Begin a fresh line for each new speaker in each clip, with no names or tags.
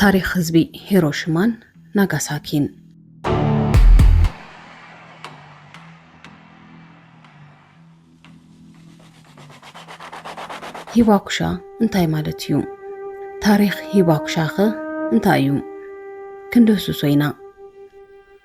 ታሪኽ ህዝቢ ሂሮሽማን ናጋሳኪን ሂባኩሻ እንታይ ማለት እዩ? ታሪኽ ሂባኩሻኸ እንታይ እዩ? ክንድህስሶ ኢና።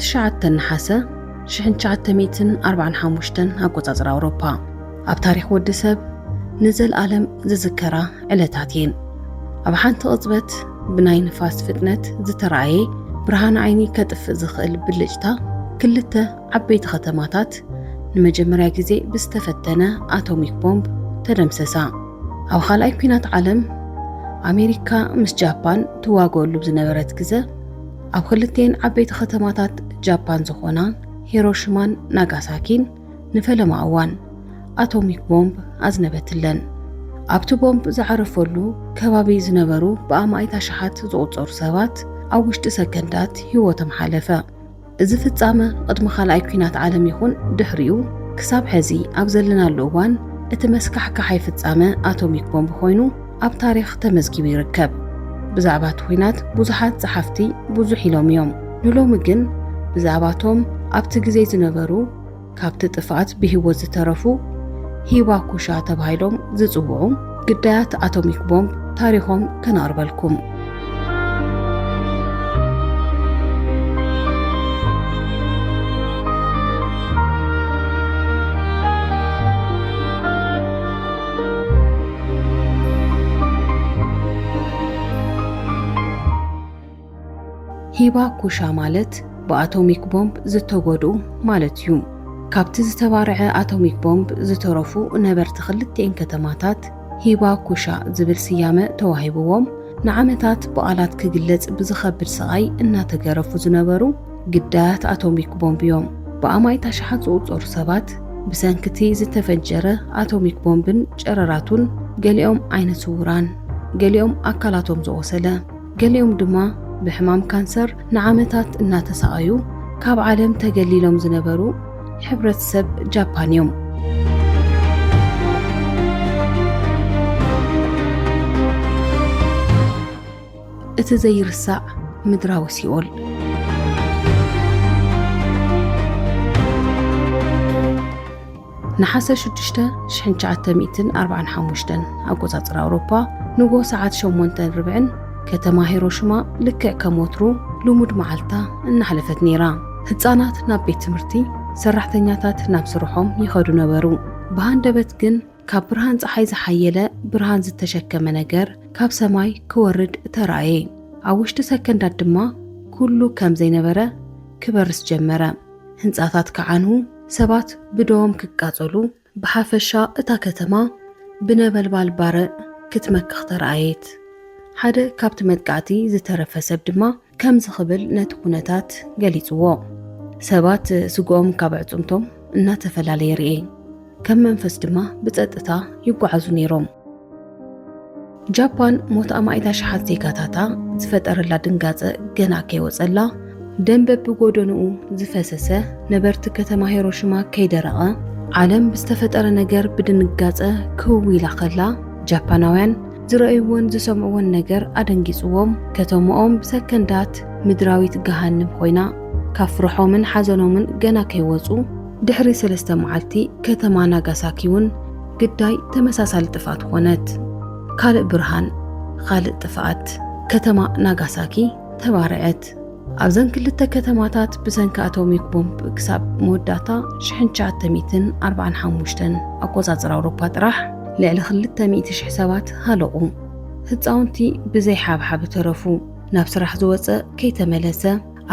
ትሽዓተ ነሓሰ ሽሕን ትሽዓተ ሚእትን ኣርባዓን ሓሙሽተን ኣቆጻጽራ ኣውሮፓ ኣብ ታሪኽ ወዲ ሰብ ንዘልኣለም ዝዝከራ ዕለታት እየን። ኣብ ሓንቲ ቅጽበት ብናይ ንፋስ ፍጥነት ዝተራእየ ብርሃን ዓይኒ ከጥፍእ ዝኽእል ብልጭታ ክልተ ዓበይቲ ከተማታት ንመጀመርያ ግዜ ብዝተፈተነ ኣቶሚክ ቦምብ ተደምሰሳ። ኣብ ኻልኣይ ኩናት ዓለም ኣሜሪካ ምስ ጃፓን ትዋገሉ ብዝነበረት ግዘ ኣብ ኽልቴን ዓበይቲ ኸተማታት ጃፓን ዝኾና ሂሮሽማን ናጋሳኪን ንፈለማ እዋን ኣቶሚክ ቦምብ ኣዝነበትለን። ኣብቲ ቦምብ ዝዓረፈሉ ከባቢ ዝነበሩ ብኣማኢት ኣሽሓት ዝቑጸሩ ሰባት ኣብ ውሽጢ ሰከንዳት ህይወቶም ሓለፈ። እዚ ፍጻመ ቕድሚ ካልኣይ ኲናት ዓለም ይኹን ድሕሪኡ ክሳብ ሐዚ ኣብ ዘለናሉ እዋን እቲ መስካሕካሓይ ፍጻመ ኣቶሚክ ቦምብ ኾይኑ ኣብ ታሪኽ ተመዝጊቡ ይርከብ። ብዛዕባ እቲ ኹናት ብዙሓት ጸሓፍቲ ብዙሕ ኢሎም እዮም። ንሎሚ ግን ብዛዕባ እቶም ኣብቲ ግዜ ዝነበሩ ካብቲ ጥፍኣት ብህይወት ዝተረፉ ሂባኩሻ ተባሂሎም ዝጽውዑ ግዳያት ኣቶሚክ ቦምብ ታሪኾም ከነቕርበልኩም። ሂባኩሻ ማለት ብኣቶሚክ ቦምብ ዝተጎድኡ ማለት እዩ። ካብቲ ዝተባርዐ ኣቶሚክ ቦምብ ዝተረፉ ነበርቲ ክልቲኤን ከተማታት፣ ሂባኩሻ ዝብል ስያመ ተዋሂብዎም ንዓመታት ብቓላት ክግለጽ ብዝኸብድ ስቓይ እናተገረፉ ዝነበሩ ግዳያት ኣቶሚክ ቦምብ እዮም። ብኣማኢት ኣሽሓት ዝቑጸሩ ሰባት ብሰንኪ'ቲ ዝተፈንጀረ ኣቶሚክ ቦምብን ጨረራቱን ገሊኦም ዓይነ ስዉራን ገሊኦም ኣካላቶም ዝቖሰለ፣ ገሊኦም ድማ ብሕማም ካንሰር ንዓመታት እናተሳቐዩ ካብ ዓለም ተገሊሎም ዝነበሩ ሕብረተሰብ ጃፓን እዮም። እቲ ዘይርሳዕ ምድራዊ ሲኦል ነሓሰ ሽዱሽተ ሽሕን ትሽዓተ ሚእትን ኣርባዓን ሓሙሽተን ኣቆጻጽራ ኣውሮፓ ንግሆ ሰዓት ሸሞንተን ርብዕን ከተማ ሂሮሽማ ልክዕ ከም ወትሩ ልሙድ መዓልታ እናሕለፈት ነይራ። ህጻናት ናብ ቤት ትምህርቲ፣ ሰራሕተኛታት ናብ ስርሖም ይኸዱ ነበሩ። ብሃንደበት ግን ካብ ብርሃን ጸሓይ ዝሓየለ ብርሃን ዝተሸከመ ነገር ካብ ሰማይ ክወርድ ተራእየ። ኣብ ውሽጢ ሰከንዳት ድማ ኩሉ ከም ዘይነበረ ክበርስ ጀመረ። ህንጻታት ክዓኑ፣ ሰባት ብደዎም ክቃጸሉ፣ ብሓፈሻ እታ ከተማ ብነበልባል ባርዕ ክትመክኽ ተራእየት። ሓደ ካብቲ መጥቃዕቲ ዝተረፈ ሰብ ድማ ከምዚ ክብል ነቲ ኩነታት ገሊጽዎ፣ ሰባት ስግኦም ካብ ኣዕጽምቶም እናተፈላለየ ርእየ፣ ከም መንፈስ ድማ ብጸጥታ ይጓዓዙ ነይሮም። ጃፓን ሞት ኣማኢት ኣሽሓት ዜጋታታ ዝፈጠረላ ድንጋፀ ገና ከይወፀላ ደም በብጎደንኡ ዝፈሰሰ ነበርቲ ከተማ ሄሮሽማ ከይደረቐ ዓለም ብዝተፈጠረ ነገር ብድንጋፀ ክው ኢላ ከላ ጃፓናውያን ዝረእይዎን ዝሰምዕዎን ነገር ኣደንጊፅዎም ከተምኦም ብሰከንዳት ምድራዊት ገሃንም ኮይና ካብ ፍርሖምን ሓዘኖምን ገና ከይወፁ ድሕሪ ሰለስተ መዓልቲ ከተማ ናጋሳኪ እውን ግዳይ ተመሳሳሊ ጥፍኣት ኾነት። ካልእ ብርሃን፣ ኻልእ ጥፍኣት፣ ከተማ ናጋሳኪ ተባርዐት። ኣብዘን ክልተ ከተማታት ብሰንኪ ኣቶሚክ ቦምብ ክሳብ መወዳእታ 1945 ኣቆጻጽራ ኣውሮፓ ጥራሕ ልዕሊ ክልተ ሚእቲ ሽሕ ሰባት ሃለቑ። ህጻውንቲ ብዘይ ሓብሓብ ተረፉ። ናብ ስራሕ ዝወጸ ከይተመለሰ፣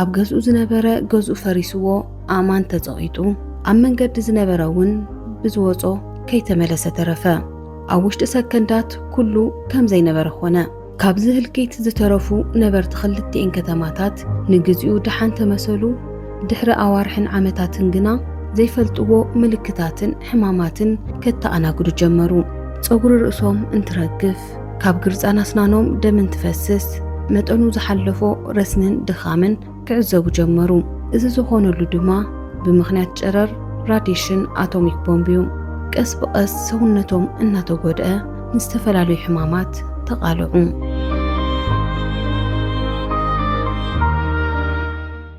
ኣብ ገዝኡ ዝነበረ ገዝኡ ፈሪስዎ ኣእማን ተጸቒጡ ኣብ መንገዲ ዝነበረ እውን ብዝወጾ ከይተመለሰ ተረፈ። ኣብ ውሽጢ ሰከንዳት ኩሉ ከም ዘይነበረ ኾነ። ካብዚ ህልቂት ዝተረፉ ነበርቲ ክልቲኤን ከተማታት ንግዚኡ ደሓን ተመሰሉ፣ ድሕሪ ኣዋርሕን ዓመታትን ግና ዘይፈልጥዎ ምልክታትን ሕማማትን ከተኣናግዱ ጀመሩ። ጸጉሪ ርእሶም እንትረግፍ፣ ካብ ግርጻን ኣስናኖም ደም እንትፈስስ መጠኑ ዝሓለፎ ረስንን ድኻምን ክዕዘቡ ጀመሩ። እዚ ዝኾነሉ ድማ ብምኽንያት ጨረር ራዲሽን ኣቶሚክ ቦምብ እዩ። ቀስ ብቐስ ሰውነቶም እናተጎድአ ንዝተፈላለዩ ሕማማት ተቓልዑ።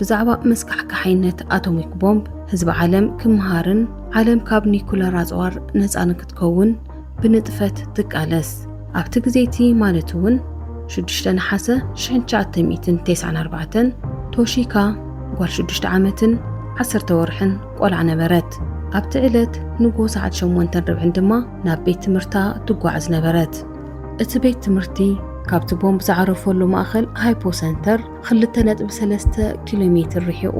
ብዛዕባ መስካሕካሓይነት ኣቶሚክ ቦምብ ህዝቢ ዓለም ክመሃርን ዓለም ካብ ኒኩለር ኣጽዋር ነፃ ንክትከውን ብንጥፈት ትቃለስ ኣብቲ ግዜ እቲ ማለት እውን 6 ነሓሰ 1994 ቶሺካ ጓል 6 ዓመትን 10 ወርሕን ቆልዓ ነበረት ኣብቲ ዕለት ንጎ ሰዓት 8 ርብዕን ድማ ናብ ቤት ትምህርታ ትጓዓዝ ነበረት እቲ ቤት ትምህርቲ ካብቲ ቦምብ ዝዓረፈሉ ማእኸል ሃይፖ ሰንተር ኽልተ ነጥቢ ሰለስተ ኪሎ ሜትር ርሒቑ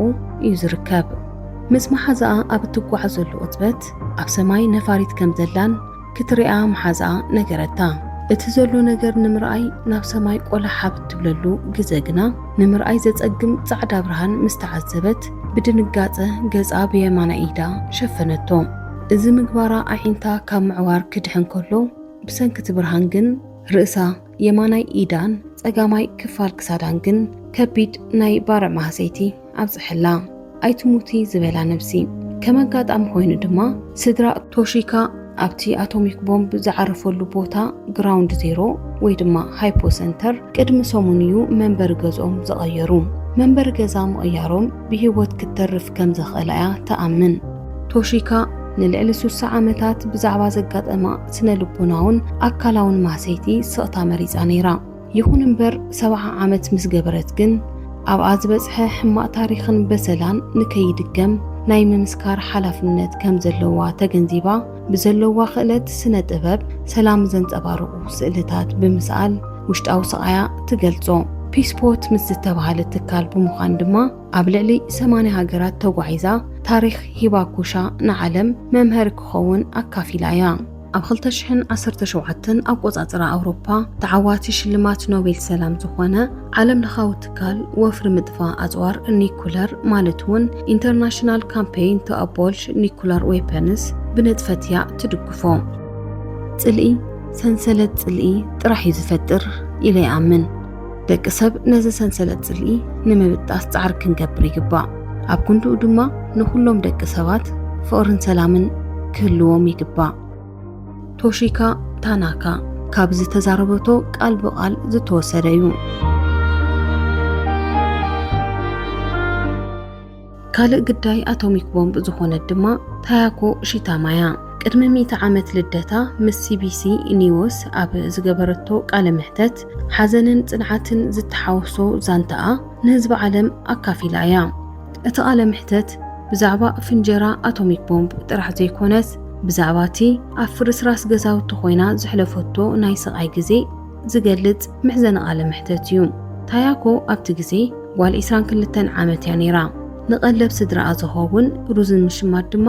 እዩ ዝርከብ። ምስ መሓዝኣ ኣብ እትጓዓዘሉ ቅጽበት፣ ኣብ ሰማይ ነፋሪት ከም ዘላን ክትሪኣ መሓዝኣ ነገረታ። እቲ ዘሎ ነገር ንምርኣይ ናብ ሰማይ ቆላሕ ኣብ እትብለሉ ግዘ ግና፣ ንምርኣይ ዘጸግም ጻዕዳ ብርሃን ምስ ተዓዘበት፣ ብድንጋጸ ገጻ ብየማናይ ኢዳ ሸፈነቶ። እዚ ምግባራ ኣዒንታ ካብ ምዕዋር ክድሕን ከሎ፣ ብሰንኪ እቲ ብርሃን ግን ርእሳ የማናይ ኢዳን ጸጋማይ ክፋል ክሳዳን ግን ከቢድ ናይ ባርዕ ማህሰይቲ ኣብጽሐላ ኣይትሙቲ ዝበላ ነብሲ ከም ኣጋጣሚ ኮይኑ ድማ ስድራ ቶሺካ ኣብቲ ኣቶሚክ ቦምብ ዝዓረፈሉ ቦታ ግራውንድ ዜሮ ወይ ድማ ሃይፖ ሰንተር ቅድሚ ሰሙን እዩ መንበሪ ገዝኦም ዝቐየሩ። መንበሪ ገዛ ምቕያሮም ብህይወት ክትተርፍ ከም ዘኽእላ እያ ትኣምን። ቶሺካ ንልዕሊ ሱሳ ዓመታት ብዛዕባ ዘጋጠማ ስነ ልቦናውን ኣካላውን ማህሰይቲ ስቕታ መሪጻ ነይራ። ይኹን እምበር ሰብዓ ዓመት ምስ ገበረት ግን ኣብኣ ዝበጽሐ ሕማቕ ታሪኽን በሰላን ንከይድገም ናይ ምምስካር ሓላፍነት ከም ዘለዋ ተገንዚባ ብዘለዋ ክእለት ስነ ጥበብ ሰላም ዘንጸባርቑ ስእልታት ብምስኣል ውሽጣዊ ስቓያ ትገልጾ። ፒስፖት ምስ ዝተባህለ ትካል ብምዃን ድማ ኣብ ልዕሊ ሰማንያ ሃገራት ተጓዒዛ ታሪኽ ሂባኩሻ ንዓለም መምሀሪ ክኸውን ኣካፊላ እያ። ኣብ 2017 ኣቆጻጽራ ኣውሮፓ ተዓዋቲ ሽልማት ኖቤል ሰላም ዝኾነ ዓለም ለኻዊ ትካል ወፍሪ ምጥፋእ ኣጽዋር ኒኩለር ማለት እውን ኢንተርናሽናል ካምፔይን ቱ ኣቦልሽ ኒኩለር ዌፐንስ ብንጥፈት እያ ትድግፎ። ጽልኢ ሰንሰለት ጽልኢ ጥራሕ እዩ ዝፈጥር ኢለ ይኣምን። ደቂ ሰብ ነዚ ሰንሰለት ጽልኢ ንምብጣስ ጻዕሪ ክንገብር ይግባእ። ኣብ ክንድኡ ድማ ንዅሎም ደቂ ሰባት ፍቕርን ሰላምን ክህልዎም ይግባእ። ቶሺካ ታናካ ካብ ዝተዛረበቶ ቃል ብቃል ዝተወሰደ እዩ። ካልእ ግዳይ ኣቶሚክ ቦምብ ዝኾነት ድማ ታያኮ ሺታማያ ቅድሚ ሚእቲ ዓመት ልደታ ምስ ሲቢሲ ኒውስ ኣብ ዝገበረቶ ቃለ መሕተት ሓዘንን ጽንዓትን ዝተሓወሶ ዛንታኣ ንህዝቢ ዓለም ኣካፊላ እያ። እቲ ቃለ መሕተት ብዛዕባ ፍንጀራ ኣቶሚክ ቦምብ ጥራሕ ዘይኮነስ ብዛዕባ እቲ ኣብ ፍርስራስ ገዛውቲ ኮይና ዘሕለፈቶ ናይ ስቓይ ግዜ ዝገልጽ መሕዘኒ ቃለ መሕተት እዩ። ታያኮ ኣብቲ ግዜ ጓል ዒስራን ክልተን ዓመት እያ ነይራ። ንቐለብ ስድራኣ ዝኸውን ሩዝን ምሽማት ድማ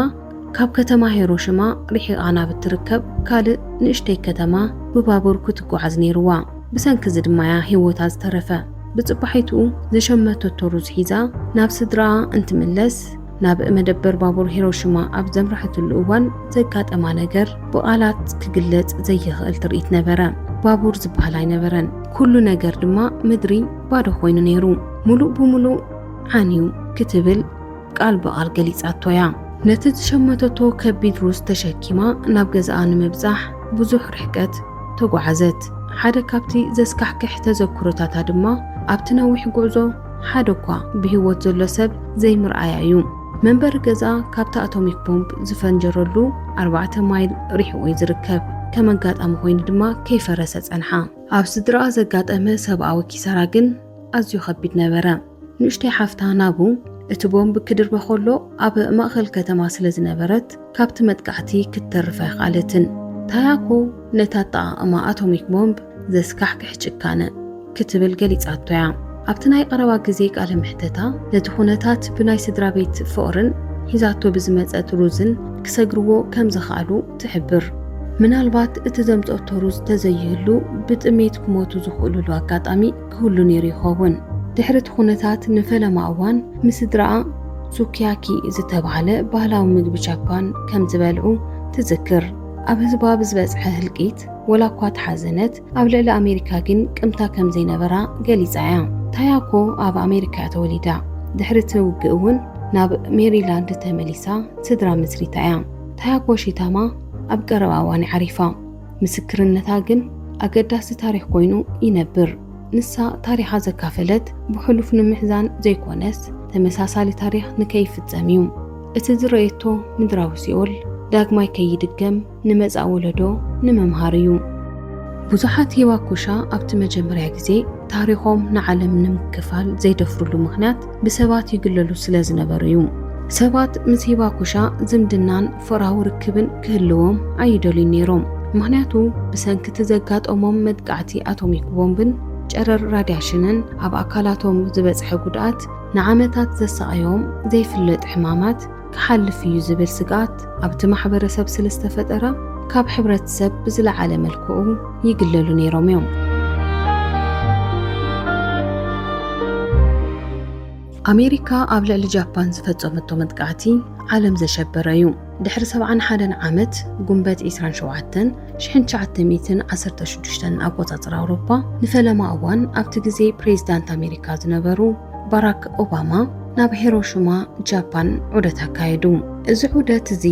ካብ ከተማ ሄሮሽማ ርሒቓ ናብ እትርከብ ካልእ ንእሽተይ ከተማ ብባቡር ክትጓዓዝ ነይርዋ። ብሰንኪ እዚ ድማ እያ ህይወታ ዝተረፈ። ብጽባሒትኡ ዝሸመተቶ ሩዝ ሒዛ ናብ ስድራኣ እንትምለስ፣ ናብ መደበር ባቡር ሂሮሽማ ኣብ ዘምራሕትሉ እዋን ዘጋጠማ ነገር ብቓላት ክግለጽ ዘይኽእል ትርኢት ነበረ። ባቡር ዝበሃል ኣይነበረን። ኩሉ ነገር ድማ ምድሪ ባዶ ኮይኑ ነይሩ። ሙሉእ ብሙሉእ ዓንዩ ክትብል ቃል ብቓል ገሊጻቶ እያ። ነቲ ዝሸመተቶ ከቢድ ሩዝ ተሸኪማ ናብ ገዛኣ ንምብጻሕ ብዙሕ ርሕቀት ተጓዓዘት። ሓደ ካብቲ ዘስካሕክሕ ተዘክሮታታ ድማ ኣብቲ ነዊሕ ጉዕዞ ሓደ እኳ ብህይወት ዘሎ ሰብ ዘይምርኣያ እዩ። መንበሪ ገዛ ካብቲ ኣቶሚክ ቦምብ ዝፈንጀረሉ ኣርባዕተ ማይል ርሒቑ እዩ ዝርከብ። ከም ኣጋጣሚ ኮይኑ ድማ ከይፈረሰ ጸንሓ። ኣብ ስድራኣ ዘጋጠመ ሰብኣዊ ኪሳራ ግን ኣዝዩ ከቢድ ነበረ። ንእሽተይ ሓፍታ ናቡ እቲ ቦምብ ክድርበ ከሎ ኣብ ማእኸል ከተማ ስለ ዝነበረት ካብቲ መጥቃዕቲ ክትተርፍ ኣይኸኣለትን። ታያኮ ነቲ ኣጠቓቕማ ኣቶሚክ ቦምብ ዘስካሕክሕ ጭካነ ክትብል ገሊጻቶ እያ። ኣብቲ ናይ ቀረባ ግዜ ቃለ መሕተታ፣ ነቲ ኩነታት ብናይ ስድራ ቤት ፍቕርን ሒዛቶ ብዝመጸት ሩዝን ክሰግርዎ ከም ዝኸኣሉ ትሕብር። ምናልባት እቲ ዘምጸቶ ሩዝ ተዘይህሉ ብጥሜት ክሞቱ ዝኽእሉሉ ኣጋጣሚ ክህሉ ነይሩ ይኸውን። ድሕሪ እቲ ኩነታት ንፈለማ እዋን ምስ ስድራኣ ሱኪያኪ ዝተባህለ ባህላዊ ምግቢ ጃፓን ከም ዝበልዑ ትዝክር። ኣብ ህዝባ ብዝበጽሐ ህልቂት፣ ወላ እኳ ተሓዘነት፣ ኣብ ልዕሊ ኣሜሪካ ግን ቅምታ ከም ዘይነበራ ገሊጻ እያ። ታያኮ ኣብ ኣሜሪካ እያ ተወሊዳ፣ ድሕሪ እቲ ውግእ እውን ናብ ሜሪላንድ ተመሊሳ ስድራ መስሪታ እያ። ታያኮ ሺታማ ኣብ ቀረባ እዋን እያ ዓሪፋ፣ ምስክርነታ ግን ኣገዳሲ ታሪኽ ኮይኑ ይነብር። ንሳ ታሪኻ ዘካፈለት ብሕሉፍ ንምሕዛን ዘይኮነስ ተመሳሳሊ ታሪኽ ንከይፍጸም እዩ። እቲ ዝረየቶ ምድራዊ ሲኦል ዳግማይ ከይድገም ንመጻኢ ወለዶ ንምምሃር እዩ። ብዙሓት ሂባኩሻ ኣብቲ መጀመርያ ግዜ ታሪኾም ንዓለም ንምክፋል ዘይደፍርሉ ምኽንያት ብሰባት ይግለሉ ስለ ዝነበሩ እዩ። ሰባት ምስ ሂባኩሻ ዝምድናን ፍቕራዊ ርክብን ክህልዎም ኣይደልዩን ነይሮም፣ ምኽንያቱ ብሰንኪ እቲ ዘጋጠሞም መጥቃዕቲ ኣቶሚክ ቦምብን ጨረር ራድያሽንን ኣብ ኣካላቶም ዝበጽሐ ጉድኣት፣ ንዓመታት ዘሳቐዮም ዘይፍለጥ ሕማማት፣ ክሓልፍ እዩ ዝብል ስግኣት ኣብቲ ማሕበረሰብ ስለዝተፈጠረ ካብ ሕብረተሰብ ብዝለዓለ መልክዑ ይግለሉ ነይሮም እዮም። ኣሜሪካ ኣብ ልዕሊ ጃፓን ዝፈጸመቶ መጥቃዕቲ ዓለም ዘሸበረ እዩ። ድሕሪ ሰብዓን ሓደን ዓመት ጉንበት ዒስራን ሸውዓተን 1916 ኣቆጻጽራ ኣውሮፓ ንፈለማ እዋን ኣብቲ ግዜ ፕሬዝዳንት ኣሜሪካ ዝነበሩ ባራክ ኦባማ ናብ ሄሮሽማ ጃፓን ዑደት ኣካየዱ። እዚ ዑደት እዚ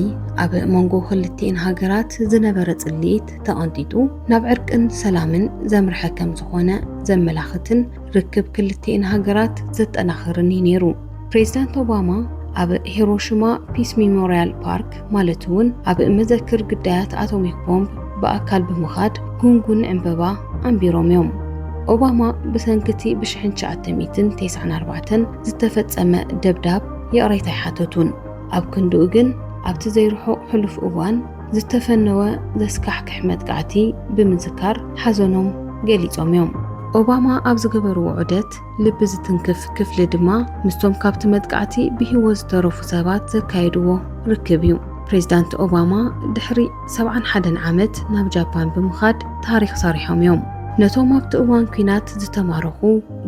ኣብ መንጎ ክልቲኤን ሃገራት ዝነበረ ጽልኢት ተቐንጢጡ ናብ ዕርቅን ሰላምን ዘምርሐ ከም ዝኾነ ዘመላኽትን ርክብ ክልቲኤን ሃገራት ዘጠናኽርን እዩ ነይሩ። ፕሬዝዳንት ኦባማ ኣብ ሂሮሽማ ፒስ ሚሞርያል ፓርክ ማለት እውን ኣብ መዘክር ግዳያት ኣቶሚክ ቦምብ ብኣካል ብምኻድ ጉንጉን ዕምበባ ኣንቢሮም እዮም። ኦባማ ብሰንኪ እቲ ብሽሕን ትሽዓተ ሚእትን ቴስዓን ኣርባዕተን ዝተፈጸመ ደብዳብ ይቕሬታ ኣይሓተቱን። ኣብ ክንድኡ ግን ኣብቲ ዘይርሑቕ ሕሉፍ እዋን ዝተፈነወ ዘስካሕክሕ መጥቃዕቲ ብምዝካር ሓዘኖም ገሊጾም እዮም። ኦባማ ኣብ ዝገበርዎ ዑደት ልቢ ዝትንክፍ ክፍሊ ድማ ምስቶም ካብቲ መጥቃዕቲ ብህይወት ዝተረፉ ሰባት ዘካየድዎ ርክብ እዩ። ፕሬዚዳንት ኦባማ ድሕሪ 71 ዓመት ናብ ጃፓን ብምኻድ ታሪኽ ሰሪሖም እዮም። ነቶም ኣብቲ እዋን ኲናት ዝተማረኹ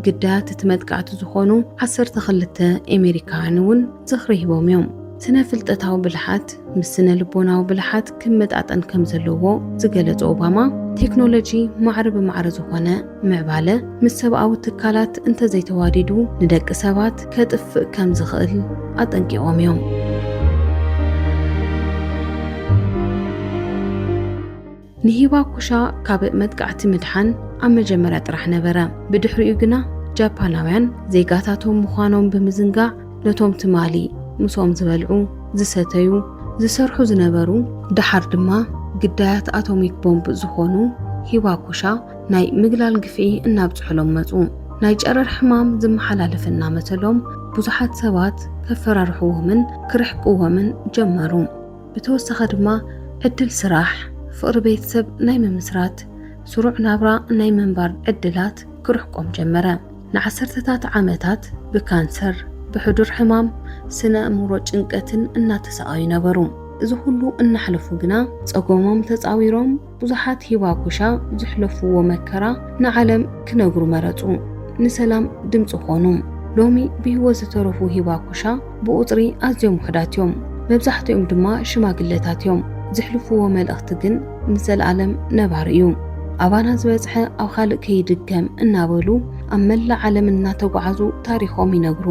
ግዳያት እቲ መጥቃዕቲ ዝኾኑ 12 ኣሜሪካውያን እውን ዝኽሪ ሂቦም እዮም። ስነ ፍልጠታዊ ብልሓት ምስ ስነ ልቦናዊ ብልሓት ክመጣጠን ከም ዘለዎ ዝገለጸ ኦባማ ቴክኖሎጂ ማዕረ ብማዕረ ዝኾነ ምዕባለ ምስ ሰብኣዊ ትካላት እንተዘይተዋዲዱ ንደቂ ሰባት ከጥፍእ ከም ዝኽእል ኣጠንቂቖም እዮም። ንሂባኩሻ ካብ መጥቃዕቲ ምድሓን ኣብ መጀመርያ ጥራሕ ነበረ፣ ብድሕሪኡ ግና ጃፓናውያን ዜጋታቶም ምዃኖም ብምዝንጋዕ ነቶም ትማሊ ምስኦም ዝበልዑ፣ ዝሰተዩ፣ ዝሰርሑ ዝነበሩ፣ ደሓር ድማ ግዳያት ኣቶሚክ ቦምብ ዝኾኑ ሂባኩሻ ናይ ምግላል ግፍዒ እናብፅሑሎም መፁ። ናይ ጨረር ሕማም ዝመሓላለፍ እናመሰሎም ብዙሓት ሰባት ከፈራርሕዎምን ክርሕቅዎምን ጀመሩ። ብተወሳኺ ድማ ዕድል ስራሕ፣ ፍቕሪ ቤተሰብ ናይ ምምስራት፣ ስሩዕ ናብራ ናይ ምንባር ዕድላት ክርሕቆም ጀመረ። ንዓሰርተታት ዓመታት ብካንሰር፣ ብሕዱር ሕማም ስነ ኣእምሮ ጭንቀትን እናተሳቐዩ ነበሩ። እዚ ኹሉ እናሕለፉ ግና ፀገሞም ተፃዊሮም ብዙሓት ሂባኩሻ ዝሕለፍዎ መከራ ንዓለም ክነግሩ መረጹ። ንሰላም ድምጺ ኮኑ። ሎሚ ብህይወት ዝተረፉ ሂባኩሻ ብቑጽሪ ኣዝዮም ውሑዳት እዮም። መብዛሕትኦም ድማ ሽማግለታት እዮም። ዝሕልፍዎ መልእኽቲ ግን ንዘለኣለም ነባሪ እዩ። ኣባና ዝበጽሐ ኣብ ኻልእ ከይድገም እናበሉ ኣብ መላእ ዓለም እናተጓዓዙ ታሪኾም ይነግሩ።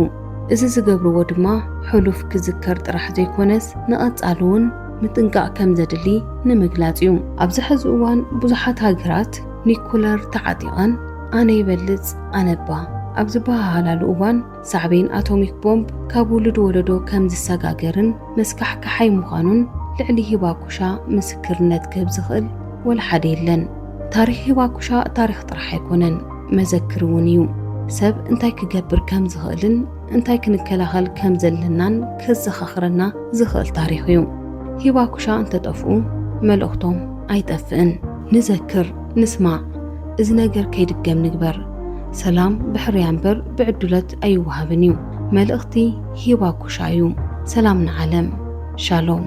እዚ ዝገብርዎ ድማ ሕሉፍ ክዝከር ጥራሕ ዘይኮነስ ንቐጻሊ እውን ምጥንቃቕ ከም ዘድሊ ንምግላጽ እዩ። ኣብዚ ሐዚ እዋን ብዙሓት ሃገራት ኒኩለር ተዓጢቐን ኣነ ይበልጽ ኣነ'ባ ኣብ ዝበሃሃላሉ እዋን ሳዕቤን ኣቶሚክ ቦምብ ካብ ውሉድ ወለዶ ከም ዝሰጋገርን መስካሕክሓይ ምዃኑን ልዕሊ ሂባኩሻ ምስክርነት ክህብ ዝኽእል ወላ ሓደ የለን። ታሪኽ ሂባኩሻ ታሪኽ ጥራሕ ኣይኮነን፣ መዘክር'ውን እዩ። ሰብ እንታይ ክገብር ከም ዝኽእልን፣ እንታይ ክንከላኸል ከም ዘለናን ከዘኻኽረና ዝኽእል ታሪኽ እዩ። ሂባኩሻ እንተጠፍኡ መልእኽቶም ኣይጠፍእን። ንዘክር፣ ንስማዕ፣ እዚ ነገር ከይድገም ንግበር። ሰላም ብሕርያ እምበር ብዕዱለት ኣይወሃብን እዩ። መልእኽቲ ሂባኩሻ እዩ። ሰላም ንዓለም። ሻሎም።